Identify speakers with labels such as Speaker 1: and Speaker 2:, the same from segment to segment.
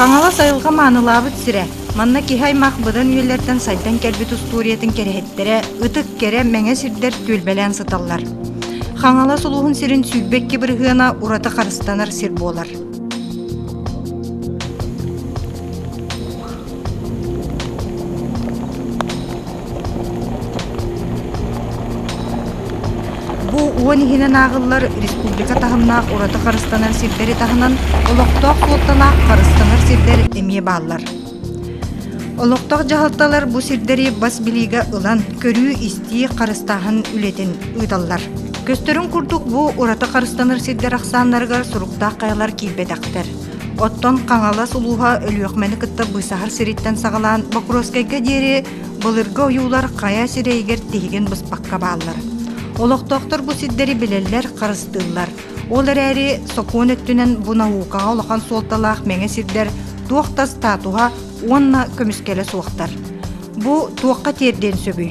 Speaker 1: Хаҥалас айылҕа маанылаабыт сирэ. Манна киһи-аймах быдан үйэлэртэн сайдан кэлбит устуоруйатын кэриэһиттэрэ ытык кэрэ мэҥэ сирдэр түөлбэлээн сыталлар. Хаҥалас улууһун сирин сүүрбэкки бырыһыана ураты харыстанар сир буолар. Бу уон иһинэн ааҕыллар республика таһымнаах ураты харыстанар сирдэри таһынан олохтоох суолталаах харыстанар сирдэр эмиэ бааллар. Олохтоох дьаһалталар бу сирдэри бас билиигэ ылан, көрүү-истии, харыстааһын үлэтин ыыталлар. Көстөрүн курдук, бу ураты харыстанар сирдэр ахсааннарыгар суруктаах хайалар киирбэтэхтэр. Оттон Хаҥалас улууһа Өлүөхмэни кытта быысаһар сириттэн саҕалаан Бокровскайга диэри былыргы ойуулар хайа сирэйигэр тиһигин быспакка бааллар. Олохтоохтор бу сирдэри билэллэр, харыстыыллар. Ол эрээри сокуон өттүнэн бу наукаҕа улахан суолталаах мэҥэ сирдэр туох да статуһа уонна көмүскэлэ суохтар. Бу туохха тиэрдиэн сөбүй?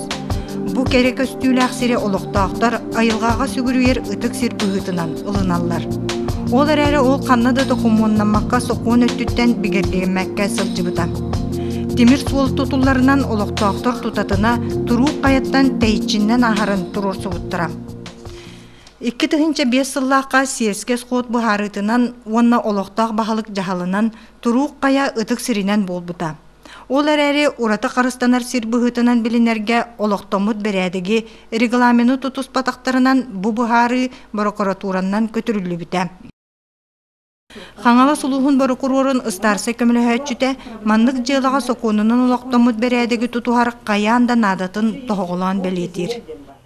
Speaker 1: Бу кэрэ көстүүлээх сири олохтоохтор айылҕаҕа сүгүрүйэр ытык сир быһыытынан ылыналлар. Ол эрээри ол ханна да докумуоннаммакка сокуон өттүттэн бигэргэммэккэ сылдьыбыта. Тимир суол тутулларынан олохтоохтор тутатына туруук хайаттан тэйиччиннэн аһарын туруорсубуттара. Икки тыһыынча биэс сыллаахха сиэскэ сход быһаарыытынан уонна олохтоох баһылык дьаһалынан туруук хайа ытык сиринэн буолбута. Ол эрээри ураты харыстанар сир быһыытынан билинэргэ олохтоммут бэрээдэги регламены тутуспатахтарынан бу быһаарыы борокуратууранан көтүрүллүбүтэ. Хаҥалас улууһун борокуруорун ыстаарсай көмөлөһөөччүтэ маннык дьыалаҕа сокуонунан олохтоммут бэрээдэги тутуһар хайаан да наадатын тоһоҕолоон бэлиэтиир.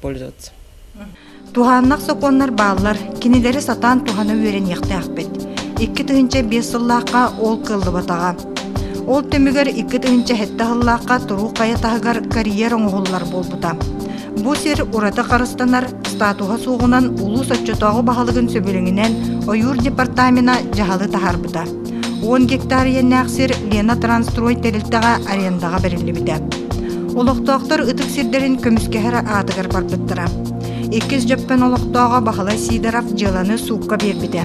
Speaker 2: пользоваться.
Speaker 1: Туһааннах сокуоннар бааллар, кинилэри сатаан туһана үөрэниэхтээхпит. Икки тыһыынча биэс сыллаахха ол кыаллыбатаҕа. Ол түмүгэр икки тыһыынча сэттэ сыллаахха туруу хайа таһыгар карьер оҥоһуллар буолбута. Бу сир ураты харыстанар, статуһа суоҕунан улуус оччотооҕу баһылыгын сөбүлэҥинэн ойуур департамена дьаһалы таһаарбыта. Уон гектар иэннээх сир Лена-Трансстрой тэрилтэҕэ арендаҕа бэриллибитэ. Олохтоохтор ытык сирдэрин көмүскэһэр аатыгар барбыттара. Иккис Дьөппөн олохтооҕо Баһылай Сидоров дьыаланы суукка биэрбитэ.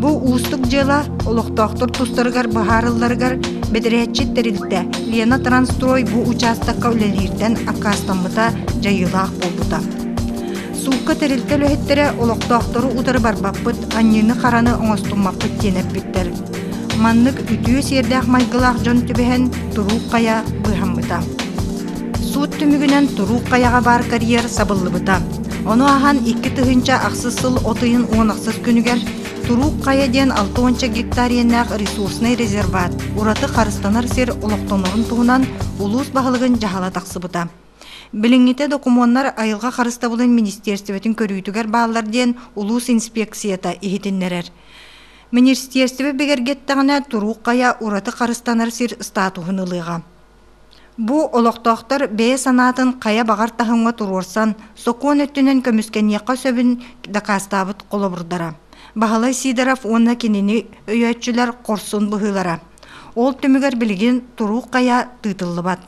Speaker 1: Бу уустук дьыала олохтоохтор тустарыгар быһаарылларыгар бэдэрээтчит тэрилтэ Лена-Трансстрой бу учаастакка үлэлииртэн аккаастаммыта дьайыылаах буолбута. Суукка тэрилтэ үлэһиттэрэ олохтоохтору утары барбаппыт, аньыыны-хараны оҥостуммаппыт диэн эппиттэр. Маннык үтүө сиэрдээх майгылаах дьон түбэһэн туруук хайа быыһаммыта. Суут түмүгүнэн туруук хайаҕа баар карьер сабыллыбыта. Ону аһан икки тыһыынча ахсыс сыл от ыйын уон ахсыс күнүгэр Туруук Хайа диэн алта уонча гектар иэннээх ресурснай резерваат ураты харыстанар сир олохтонорун туһунан улуус баһылыгын дьаһала тахсыбыта. Билиҥҥитэ докумуоннар Айылҕа харыстабылын министиэрстибэтин көрүүтүгэр бааллар диэн улуус инспиэкцията иһитиннэрэр. Министиэрстибэ бигэргэттэҕинэ туруук хайа ураты харыстанар сир статуһун ылыаҕа. Бу олохтоохтор бэйэ санаатын хайа баҕар таһымҥа туруорсан, сокуон өттүнэн көмүскэниэххэ сөбүн дакаастаабыт холобурдара. Баһылай Сидоров уонна кинини өйөөччүлэр хорсун быһыылара. Ол түмүгэр билигин туруук хайа тыытыллыбат.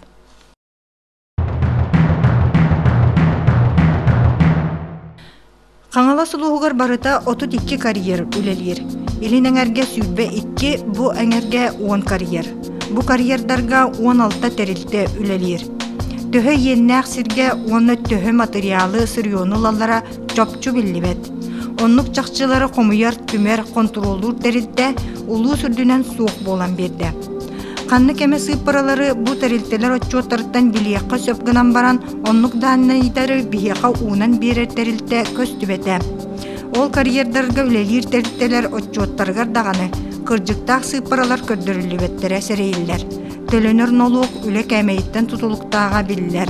Speaker 1: Хаҥалас улууһугар барыта отут икки карьер үлэлиир. Илин эҥэргэ сүүрбэ икки, бу эҥэргэ уон карьер. Бу карьердарга уон алта тэрилтэ үлэлиир. Төһө иэннээх сиргэ уонна төһө матырыйаалы сырьёну ылаллара чопчу биллибэт. Оннук чахчылары хомуйар, түмэр, хонтуруоллуур тэрилтэ улуус үрдүнэн суох буолан биэрдэ. Ханнык эмэ сыыппаралары бу тэрилтэлэр отчуоттарыттан билиэххэ сөп гынан баран, оннук дааннайдары биһиэхэ уунан биэрэр тэрилтэ көстүбэтэ. Ол карьердарга үлэлиир тэрилтэлэр отчуоттарыгар даҕаны кырдьыктаах сыыппаралар көрдөрүллүбэттэрэ сэрэйиллэр. Төлөнөр нолуок үлэ кээмэйиттэн тутулуктааҕа биллэр.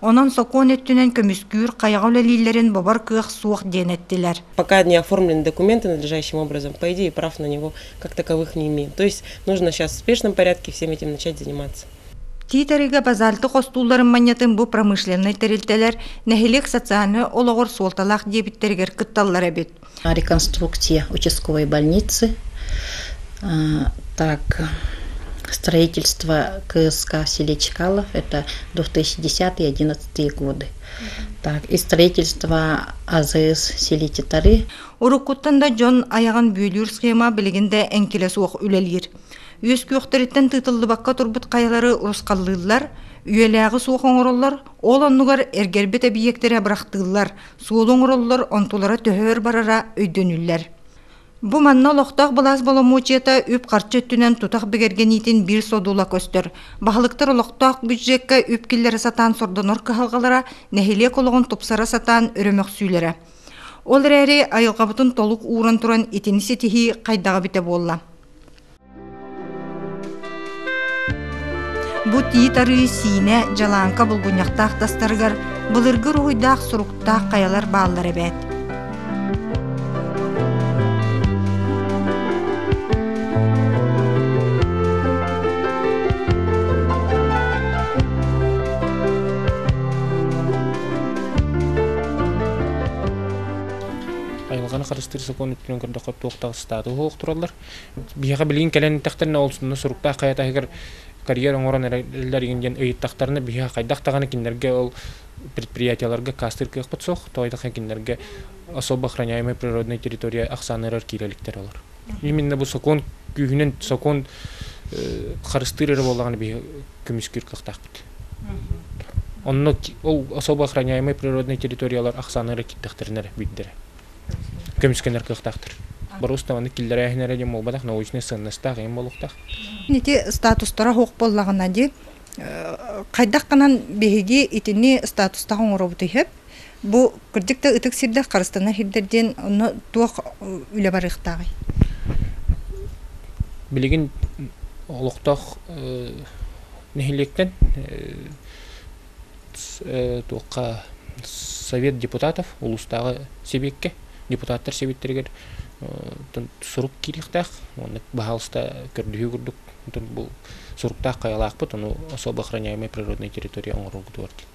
Speaker 1: Онон сокуон өттүнэн көмүскүүр хайаҕа үлэлииллэрин бобор кыах суох диэн эттилэр. Пока не оформлены
Speaker 2: документы надлежащим образом, по идее, прав на него как таковых не имеем. То есть нужно сейчас в спешном порядке всем этим начать заниматься. Тиитэригэ
Speaker 1: базальтык остуулларын манньатын бу промышленнай тэрилтэлэр нэһилиэк социальнай олоҕор суолталаах диэбиттэригэр кытталлар эбит. реконструкция
Speaker 3: участковой больницы так строительство кск в селе чкалов это две тысячи десятые одиннадцатые годы так и строительство азс в селе титары уруккуттан да
Speaker 1: дьон айаҕын бүөлүүр схема билигин да эҥкилэ суох үлэлиир үөс күөхтэриттэн тыытыллыбакка турбут хайалары урусхаллыыллар үйэлээҕи суох оҥороллор ол оннугар эргэрбит эбийиэктэри бырахтыыллар Суолу оҥороллор, онтулара төһө өр барара өйдөнүллэр. Бу манна олохтоох былаас боломуочуйата үп-харчы өттүнэн тутах бигэргэниитин биир содула көстөр. Баһылыктар олохтоох бюджекка үп киллэрэ сатаан сордонор кыһалҕалара нэһилиэк олоҕун тупсара сатаан өрөмөхсүүлэрэ. Ол эрээри айылҕабытын толук ууран туран итини ситиһии хайдаҕа эбитэ буолла? Бут иит арыы Сиинэ Дьалааҥка булгунньахтаах тастарыгар былыргы уруһуйдаах суруктаах хайалар бааллар эбээт.
Speaker 4: Айылҕаны харыстыыр сокуон өттүнэн көрдөххө туох таҕыстааты уһуох тураллар. Биһиэхэ билигин кэлэн эттэхтэринэ ол сонно суруктаах хайатаһыгар карьер оҥорон эрэллэр игин диэн ыйыттахтарына биһиэхэ хайдах даҕаны кинилэргэ ол предприятиеларга каастыыр кыахпыт суох тоойдахха кинилэргэ особо охраняемой природной территория ахсааныгар киирэ иликтэр олор именно бу сокуон күүһүнэн сокуон харыстыыр эрэ буоллаҕына биһи көмүскүүр кыахтаахпыт онно ол особо охраняемой природной территориялар ахсааныгар киирдэхтэринэ эрэ бүйдэрэ көмүскэнэр кыахтаахтар боруус даҕаны киллэрээһин эрэ диэн буолбатах научнай сыаннастаах ийэм буолуохтаах ити
Speaker 1: статустара суох буоллаҕына дии хайдах гынан биһиги итини статустаах оҥоробут иһэп бу кырдьык да ытык сирдэр харыстана иһирдэр диэн онно туох үлэ барыахтааҕый
Speaker 4: билигин олохтоох нэһилиэктэн туохха совет депутатов улуустааҕы сэбиэккэ депутаттар сэбиэттэригэр сурук киириэхтээх уонна баһаалыста көрдөһүү курдук бу суруктаах хайалаахпыт ону особо охраняемый природнай территория оҥороргутугар диэн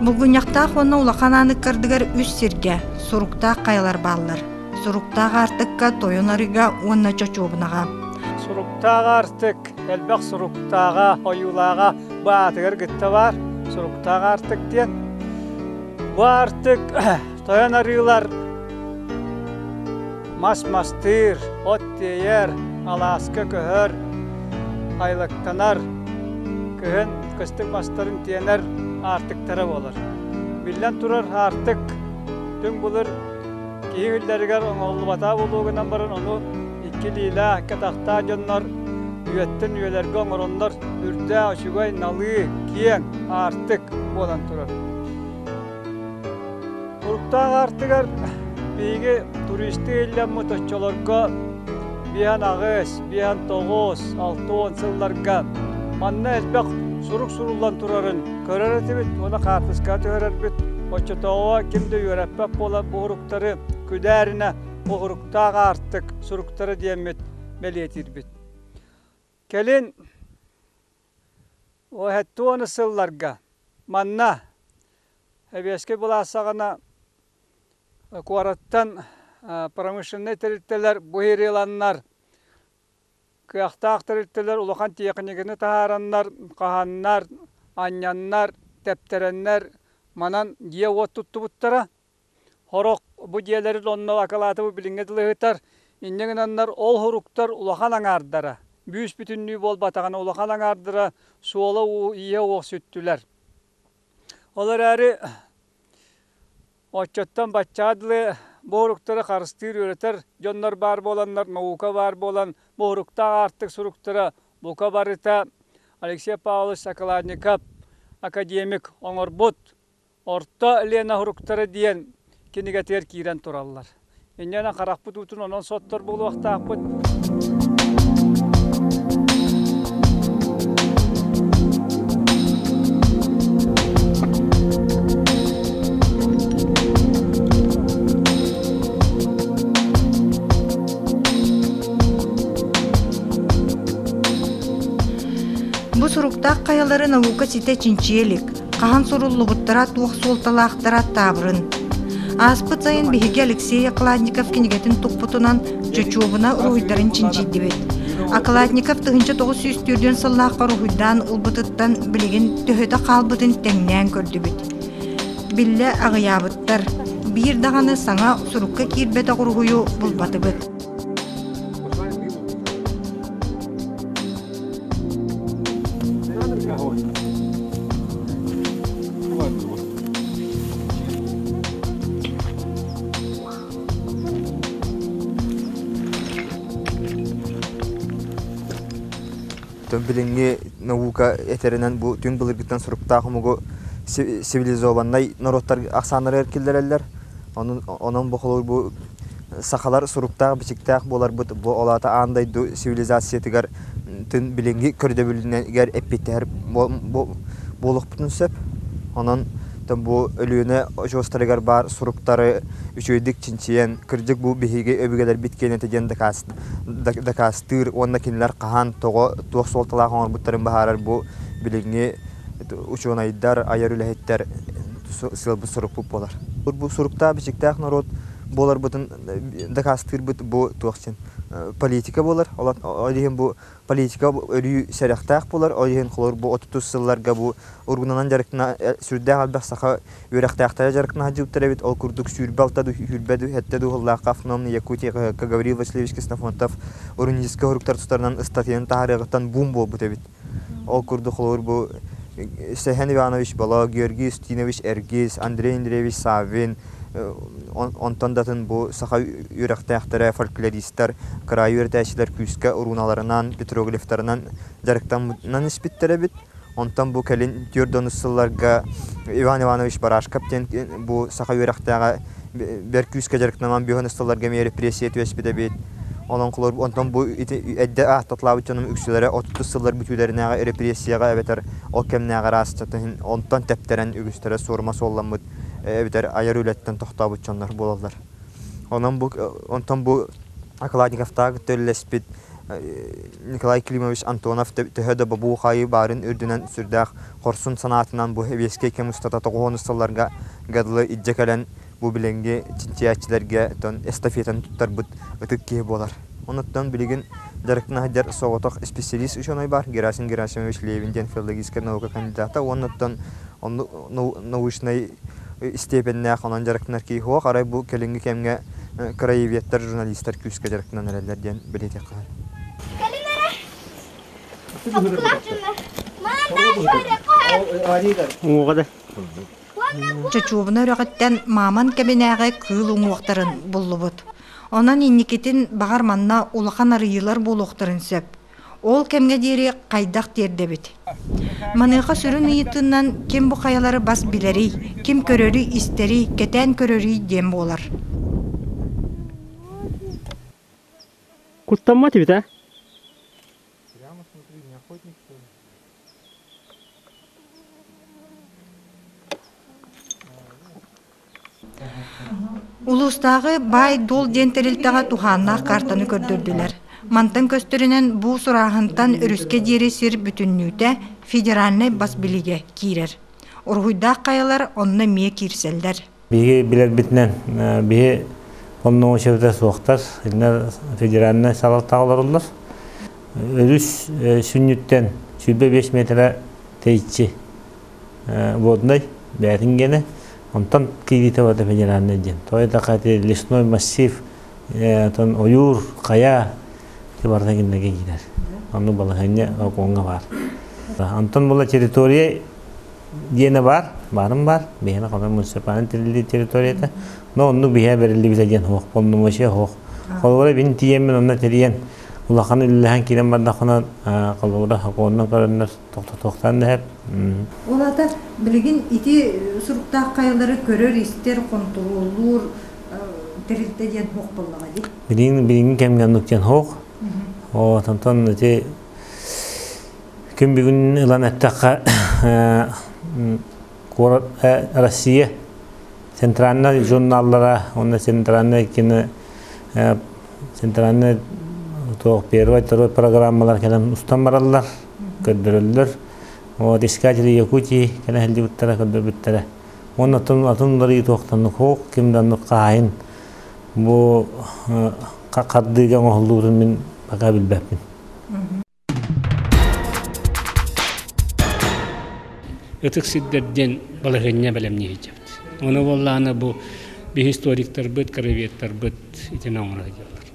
Speaker 1: Булгунньахтаах уонна улахан ааныккардыгар үс сиргэ, суруктаах хайалар бааллар. Суруктаах аартыкка тойон
Speaker 5: арыга
Speaker 1: уонна чочуобунаҕа.
Speaker 5: Суруктаах
Speaker 1: аартык
Speaker 5: элбэх суруктааҕа, ойуулааҕа бу аатыгар кытта баар. Суруктаах аартык диэн. Бу аартык Тойон арыылар мас мастыыр, от тиэйэр, алааска көһөр, айлыктанар, кыһын кыстык мастарын тиэнэр аартыктара буолар. Биллэн турар, аартык түҥ былыр киһи иллэригэр оҥоһуллубата буолуо гынан баран, ону икки илиилээх, икки атахтаах дьоннор үйэттэн үйэлэргэ оҥороннор үрдээх, үчүгэй, налыы, киэҥ аартык буолан турар. Туруктаах аартыгар биһиги туристыы иллэммит оччолорго биһиэхин аҕыс, биһиэхин тоҕус, алта уон сылларга манна элбэх сурук суруллан турарын көрөр этибит уонна хаартыскаҕа түһэрэрбит. Оччотооҕу ким да үөрэппэт буолар бу уруктары күдээринэ уһуруктаах аартык суруктара диэммит бэлиэтиирбит. Кэлин Уоһэттуу уонна сылларга манна Эбиэскэй былаассаҕана куораттан промышленнай тэрилтэлэр буһиырыланнар кыахтаах тэрилтэлэр улахан тиэхиньикэни таһаараннар хаһаннар анньаннар тэптэрэннэр манан дьиэ-уот туттубуттара Сорох бу дьиэлэрин онно акылааты бу билиҥҥэ дылы ыһытар. Инньэ гынаннар ол суруктар улахан аҥаардара, бүүс-бүтүннүү буолбатаҕына улахан аҥаардара суола-ииһэ уох сүттүлэр. Ол эрээри оччоттон баччаа дылы бу суруктары харыстыыр үөрэтэр дьоннор баар буоланнар наука баар буолан бу суруктаах аартык суруктара бука барыта Алексей Павлович Соколатников академик оҥорбут Орто Лена Фруктары диэн кинигэтигэр киирэн тураллар. Инньэнэн харахпыт уутун онон соттор буолуохтаахпыт.
Speaker 1: Бу суруктаах хайалары наука ситэ чинчийэ илик. хаһан суруллубуттара туох суолталаахтара таабырын. Ааспыт сайын биһиги Алексей Окладников кинигэтин туппутунан чочуобуна уруһуйдарын чинчийдибит. Окладников тыһынча тоҕус сүүс төрдүөн сыллаахха уруһуйдаан ылбытыттан билигин төһөтө хаалбытын тэҥнээн көрдүбүт. Биллэ аҕыйаабыттар. Биир даҕаны саҥа сурукка киирбэтэх уруһуйу булбатыбыт.
Speaker 6: Тон билиҥҥи наука этэринэн бу түҥ былыргыттан суруктаах омугу цивилизованнай норуоттар ахсааннара эркиллэрэллэр. Онон онон бу холобур бу Сахалар суруктаах-бичиктээх буоларбыт бу ол аата аан дойду цивилизациятыгар тын билинги көрдөбүлүнэгэр эппиттэһэр буолуохпутун сөп. Онон бу Өлүөнэ очуостарыгар баар суруктары үчүгэйдик чинчийэн кырдьык бу биһиги өбүгэлэрбит киэнэтэ диэн дакаастыыр уонна кинилэр хаһан, тоҕо, туох суолталаах оҥорбуттарын баһаарар бу билинги учуонайдар, айар үлэһиттэр сыалбыт сурукпут буолар. Бу суруктаах бичиктээх норуот буоларбытын дакаастыырбыт бу туох дьин политика буолар. Ол иһин бу политика өрүү сэрэхтээх буолар. Ол иһин холор бу отутус сылларга бу уругунанан дьарыктана сүрдээх элбэх саха үөрэхтээхтэрэ дьарыктана сылдьыбыттар эбит. Ол курдук сүүрбэ алта да сүүрбэ да сэттэ да уһуллаахха автономный Якутия Гаврил Васильевич Ксенофонтов уруническай уруктар тустарынан ыстатыйаны таһаарыаҕыттан буум буолбут эбит. Ол курдук холобур бу Сехан Иванович Боло, Георгий Устинович Эргиз, Андрей Андреевич Саввин, онтон датын бу саха үөрэхтээхтэрэ, фольклористар, кыраайы үөрэтээччилэр күүскэ урууналарынан, петроглифтарынан дьарыктаммынан испиттэр эбит. Онтон бу кэлин түөрт да онус сылларга Иван Иванович Барашков диэн бу саха үөрэхтээҕэ бэрт күүскэ дьарыктанан бүһэн ыстылларга эмиэ репрессия түбэспит эбит. Онон кылар онтон бу ити эрдэ аахта атлаабыт дьонум үксүлэрэ отутус сыллар бүтүүлэринээҕи репрессияҕа эбэтэр ол кэмнээҕи араастата иһин онтон тэптэрэн үгүстэрэ суорума суолламмыт эбэтэр айар үлэттэн тохтообут дьоннор буолаллар. Онон бу онтон бу Окладниковтаах кытта үлэлэспит Николай Климович Антонов төһө да бобуу-хаайыы баарын үрдүнэн сүрдээх хорсун санаатынан бу сэбиэскэй кэм устата тоҕуһунус сылларга Гадлы илдьэ кэлэн Бу билиҥҥи чинчийээччилэргэ дьон эстафетаны туттарбыт ытык киһи буолар. Онтон билигин дьарыктаһыгар соҕотох исписэлиис учуонай баар Герасим Герасимович Левин диэн филологическай наука кандидата уонна оттон онно научнай истиэпэннээх онон дьарыктанар киһи суох арай бу кэлиҥҥи кэмҥэ краеведтар журналистар күүскэ дьарыктанан эрэллэр диэн бэлиэтиэххэ сөп. кэлин эрэ саппыраачыннар
Speaker 1: маандаан саһарыахха Оҕоҕо да. Чочуобуна үрэҕиттэн Мааман кэбинээҕи кыыл уҥуохтарын буллубут. Онон инникитин, баҕар, манна улахан арыйыылар буолуохтарын сөп. Ол кэмҥэ диэри хайдах тиэрдэбит? Маныаха сүрүн ыйытыынан ким бу хайалары бас билэрий, ким көрөрүй-истэрий, кэтээн көрөрүй диэн буолар.
Speaker 7: Куттаммат эбит а?
Speaker 1: Улуустааҕы Баай-дуол диэн тэрилтэҕэ туһааннаах каартаны көрдөрдүлэр. Мантан көстөрүнэн бу сурааһынтан өрүскэ диэри сир бүтүннүүтэ федеральнай бас билигэ киирэр. Уруһуйдаах хайалар онно эмиэ киирсэллэр. Биһиги билэрбитинэн
Speaker 8: биһи оннук учета суохтар, иннэ федеральнай салалтаҕа олороллор. Өрүс сүнньүттэн сүүрбэ биэс метрэ тэйиччи воднай бээтин гene, онтон кииритевата федеральнай диэн. Той така лесной массив, тон ойуур, кая барта киндерге кирер. Ону балаһанья окуонга бар. Антон була территория диэнэ баар, баарым баар, бэйэм Хомой муниципальнай территорията, но онну биһэ бэриллибитэ диэн оһох полномочия оһох. Холобура бин тиийэммин онно тэрийэн улахан үллэһэн киирэн бардахына холобура хоннон көрөннөр тохтотохтан дэһэп. Улата
Speaker 1: билигин ити суруктаах кайылары көрөр-истэр, контроллуур тэрилтэ диэн хоқ боллаҕа ди. Билигин билигин кэмге
Speaker 8: аннык диэн хоқ. О, тантан эти Күн бүгүн ылан эттэххэ, Россия центральнай журналлара уонна центральнай кино центральнай первый второй программалар кэлэн устан бараллар көрдөрөллөр вот искатели якутии кэлэ сылдьыбыттара көрдөрбүттэрэ уонна атын атын уларыы туохтаннык хоқ кимданнык хаайын бу хардыыга оҥоһуллуутун мин пока билбэппин
Speaker 9: Ытык сирдэр диэн балаһыанньа бэлэмнии сылдьабыт. Ону буоллаҕына бу историктарбыт, кроветтарбыт итини оҥоро сылдьаллар.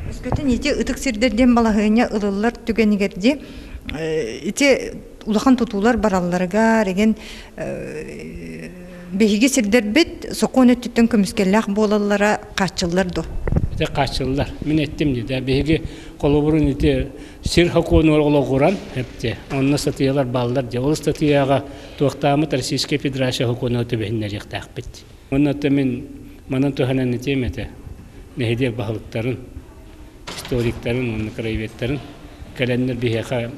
Speaker 1: Өскөтүн ити ытык сирдэр диэн балаһыанньа ылыллар түгэнигэр ити улахан тутуулар баралларыгар эгин биһиги сирдэрбит сокуон өттүттэн көмүскэллээх буолаллара хааччыллар до ите хааччыллар
Speaker 9: мин эттим диде биһиги холобурун ити сир хокуонугар олоҕуран эпте онно сатыйалар бааллар дьэ ол статыяга туохтаамыт российская федерация хокуону төбөһүннэриэхтээхпит онно мин манан туһанан этиэм этэ нэһидиэк баһылыктарын историктарын уонна краеведтарын кэлэннэр биһиэхэ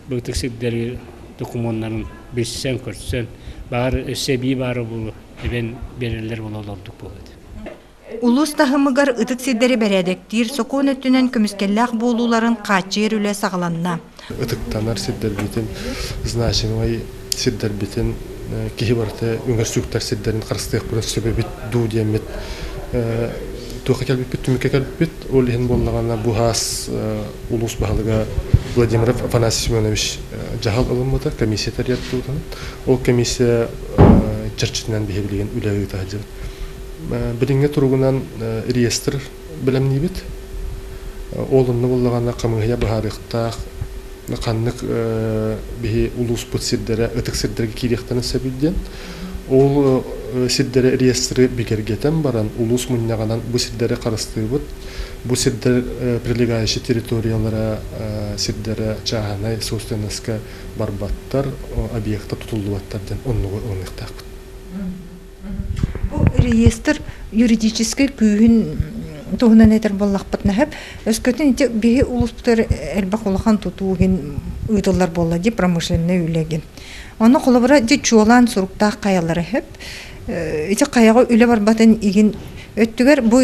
Speaker 9: быытык сирдэри докумуоннарын билсэн-көрсөн баар өссө эбии баара буолу эбэн биэрэллэр буола олордук буолуо Улус
Speaker 1: таһымыгар ытык сирдэри бэрээдэктиир сокуон өттүнэн көмүскэллээх буолууларын хааччыйар үлэ саҕаланна. ытыктанар
Speaker 10: сирдэрбитин, значимый сирдэрбитин киһи барыта үҥэрсүктэр сирдэрин харыстыахпытын сөбүбүт дуу диэммит туохха кэлбиппит түмүккэ кэлбиппит ол иһин буоллаҕына бу хаас улуус баһылыга Владимиров Афанасий Семенович дьаһал ылыммыта комиссия тэрийэр туутун ол комиссия чэрчитинэн биһи билигин үлэ ыыта сылдьыбыт билиҥҥи туругунан реестр бэлэмниибит. Ол онно буоллаҕына хамыыһыйа быһаарыахтаах ханнык биһи улууспут сирдэрэ ытык сирдэргэ киириэхтэрин сөбүй диэн. Ол сирдэри реестры бигэргэтэн баран улуус мунньаҕынан бу сирдэри харыстыыбыт. Бу сирдэр прилегающие территориялара сирдэрэ чааһынай собственностька барбаттар, объекта тутуллубаттар диэн оннугу ылыныахтаахпыт.
Speaker 1: Бу реестр юридическай күүһүн туһунан этэр буоллахпытына сөп. Өскөтүн ити биһи улустар элбэх улахан тутуу гин ыытыллар буолла ди промышленный үлэ гин. Оны холобура ди чуолаан суруктаах каялары сөп. Ити каяга үлэ барбатын игин өттүгэр бу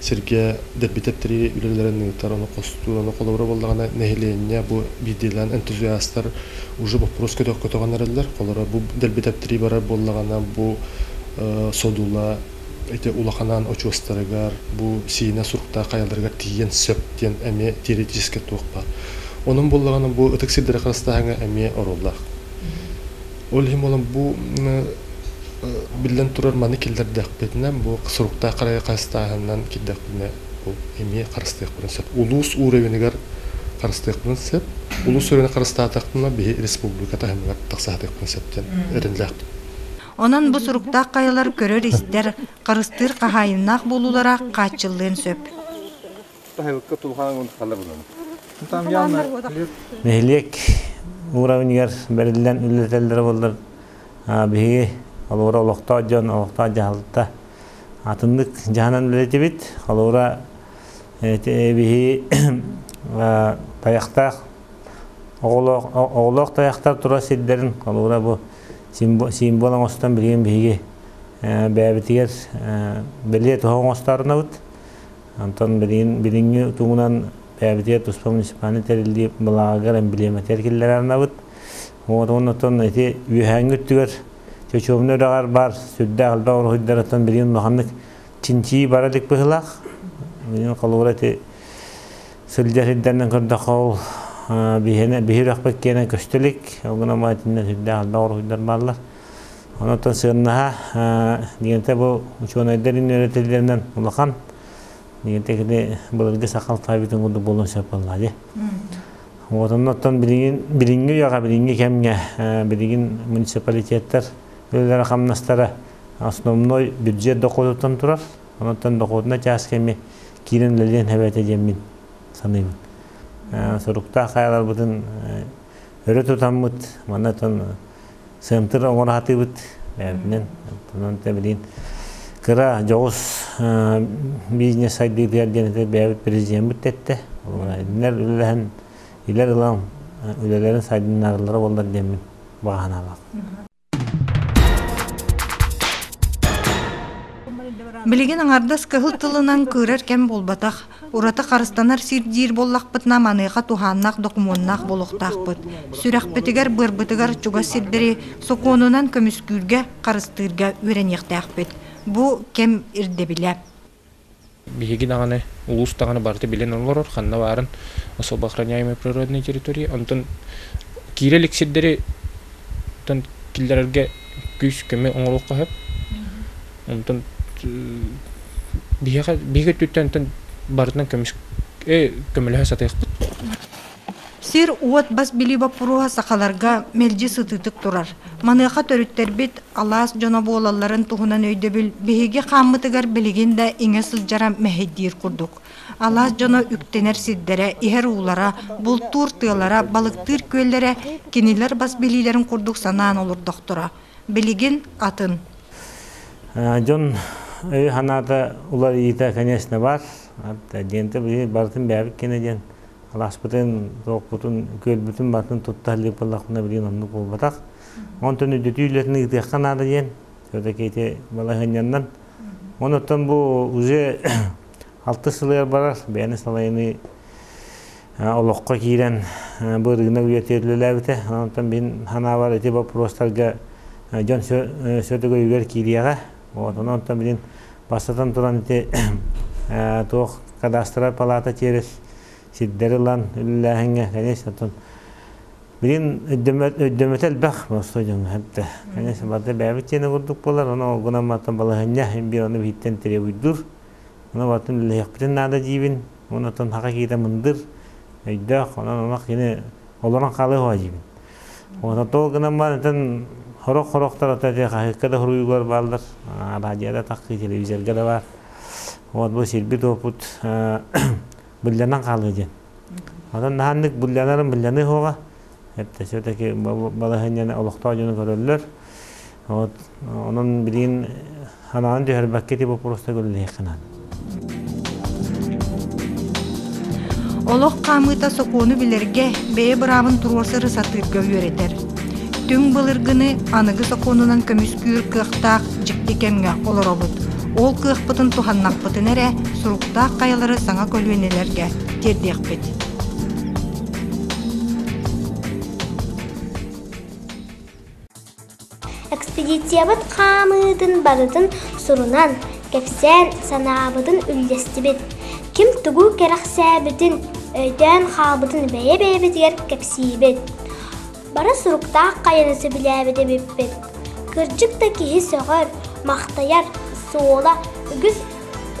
Speaker 10: сиргэ дэбитэттэрии үлэлэрин ыытар, ону хостуур, ону холобура буоллаҕына, нэһилиэнньэ бу биирдиилээн энтузиастар уже боппуруос көтөх-көтөҕөн эрэллэр. Холоро бу дэбитэттэрии барар буоллаҕына, бу содула ити улаханаан очуостарыгар, бу сиинэ суруктаах хайаларыгар тиийэн сөп диэн эмиэ теоретически туох баар. Онон буоллаҕына, бу ытык сирдэри харыстааһыҥа эмиэ оруоллаах. Ол иһин буолан бу биллэн турар маны киллэрдэхпитинэ бу суруктаах харайы хастааһынынан кирдэхпитинэ ол эмиэ харыстыахпытын сөп. Улуус уровенигар харыстыахпытын сөп. Улуус уровене харыстаатахпына биһи республика таһымыгар тахсаатыахпытын сөп диэн эрэллээхпин. Онон
Speaker 1: бу суруктаах хайалар көрөр-истэр, харыстыыр хаһаайыннаах буолуулара хааччыллыан сөп. Таһылыкка
Speaker 8: тулхааҥҥын халабынан. Нэһилиэк уровеньыгар бэриллэн үллэтэллэрэ буоллар биһиги холуора олохтоох дьон, олохтоох дьаһалта атыннык дьаһанан үлэлэтибит. Холуора биһиги тайахтаах оҕолоох тайахтар турар сирдэрин холуура бу символ оҥостон билигин биһиги бэйэбитигэр бэлиэ тоһу оҥостаарынабыт. Онтон билин билиҥҥи тугунан бэйэбитигэр туспа муниципальный тэриллии былаагар эмблематер киллэрэ арнабыт. Уотун оттон ити үөһээҥҥи өттүгэр чочуомна үрэҕэр баар сүрдээх элбэх уруһуйдарыттан билин улаханнык чинчии бара илик быһылаах. Билин холуура ити сылдьар сирдэринэн көрдөххө ол биһирэхпит киэнэ көстөлүк. Ол гынан итиннэ сүрдээх элбэх уруһуйдар бааллар. Онон сыаннаһа дигэнте бу учуонайдарын үөрэтиллэринэн улахан дигэнте кини былыргы сахал таабитин курдук буолан сөпөллаа ди. Вот оннуттан билиҥҥи үйэҕэ билиҥҥи кэмҥэ билигин муниципалитеттар өлөлөрө хамнастара основной бюджет дохуотуттан турар. Онуттан дохуотуна чаас кэми киирэн үлэлиэн хәбәте диэммин саныыбын. Суруктаах хаяларбытын өрө тутаммыт манатан сымтыр оҥоро сатыыбыт бэйэбитинэн онтон тэбилиин кыра дьоҕус бизнес сайдыытыгар диэн бэйэбит президеммит тэттэ кинилэр үлэлэһэн илэр ылан үлэлэрин сайдыннарыллара буоллар диэммин бааһыналаах
Speaker 1: Билигин аҥардас кыһыл тылынан кыырар кэм буолбатах. Ураты харыстанар сир-дьиир буоллахпытына, маныаха туһааннаах докумуоннаах буолуохтаахпыт. Сүрэхпитигэр-быарбытыгар чугас сирдэри сокуонунан көмүскүүргэ, харыстыырга үөрэниэхтээхпит. Бу кэм ирдэбилэ.
Speaker 4: Биһиги даҕаны улуус даҕаны барыта билэн олорор, ханна баарын особо охраняемые природные территории. Онтон киирэ илик сирдэри киллэрэргэ күүс-көмө оҥоруохха сөп. Онтон биһиэхэ биһиги өттүттэн барытынан көмүс көмөлөһө сатыахпыт.
Speaker 1: Сир-уот бас билии боппуруоһа сахаларга мэлдьи сытыытык турар. Маныаха төрүттэрбит алаас дьоно буолалларын туһунан өйдөбүл биһиги хааммытыгар билигин да иҥэ сылдьара мэһэйдиир курдук. Алаас дьоно үктэнэр сирдэрэ, иһэр уулара, бултуур тыалара, балыктыыр күөллэрэ кинилэр бас билиилэрин курдук санаан олордохторо. билигин атын.
Speaker 8: Дьон өйө-санаата уларыйыыта, конечно, бар. Диэнтэ барытын бэйэбит кэнэ диэн алааспытын, туохпутун, күөлбүтүн барытын тутта илик боллахпына билигин оннук буолбатах. Онтон үрдүтүү үлэтин ыытыахха наада диэн все-таки ити балаһыанньаннан. Онуттан бу уже Алта сылыгар барар бэйэни салайыныы олоххо киирэн бу ырыынак үйэтэ үлэлээбитэ. Онтон мин санаабар ити боппуруостарга дьон сөтөгөйүгэр киириэҕэ. Вот онтон мин бастатан туран ити туох кадастраль палата тиэрис сирдэри ылан үлэлээһиҥҥэ, конечно, оттон билин өйдөмөтө элбэх просто дьоҥҥо эбитэ. Конечно, барыта бэйэбит тиэнэ курдук буолар, ону гынан мантан балаһынньа биир ону биһиттэн требуйдуур. Атын үлэлэһиэхпитин наада диибин. Уонна оттон хаха киитэ мындыр, өйдөөх, онон ама кини олорон хаалыа уһа диибин. Уонна тоол гынан баан ытын хорох-хорохтор ата те хаһыакка да хоруйуулар бааллар. Радиода тахтыы телевизорга да баар. Вот бу сирбит опут булланан хаалыа диэн. Оттон наһаннык булланарын булланы хоҕа. Этте сөтеки балаһынньаны олохтоо дьону көрөллөр. Вот онон билигин санаан түһэрбэккэ ити боппуруостарга үлэлэһиэххинэн.
Speaker 1: Олох хаамыыта сокуону билэргэ бэйэ быраабын туруорсары сатыырга үөрэтэр. Түҥ былыргыны аныгы сокуонунан көмүскүүр кыахтаах дьикти кэмҥэ олоробут. Ол кыахпытын туһаннахпытына эрэ суруктаах хайалары саҥа көлүөнэлэргэ тиэрдиэхпит.
Speaker 7: Экспедициябыт хаамыытын барытын сурунан, кэпсээн, санаабытын үллэстибит. Ким тугу кэрэхсээбитин, өйдөөн хаалбытын бэйэ-бэйэбитигэр кэпсиибит. Бары суруктаах хайаны сөбүлээбит эбиппит. Кырдьык да киһи сөҕөр, махтайар, суола, үгүс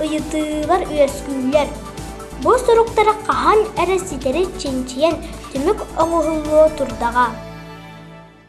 Speaker 7: ыйытыылар үөскүүллэр. Бу суруктары хаһан эрэ ситэри чинчийэн түмүк оҥоһуллуо турдаҕа.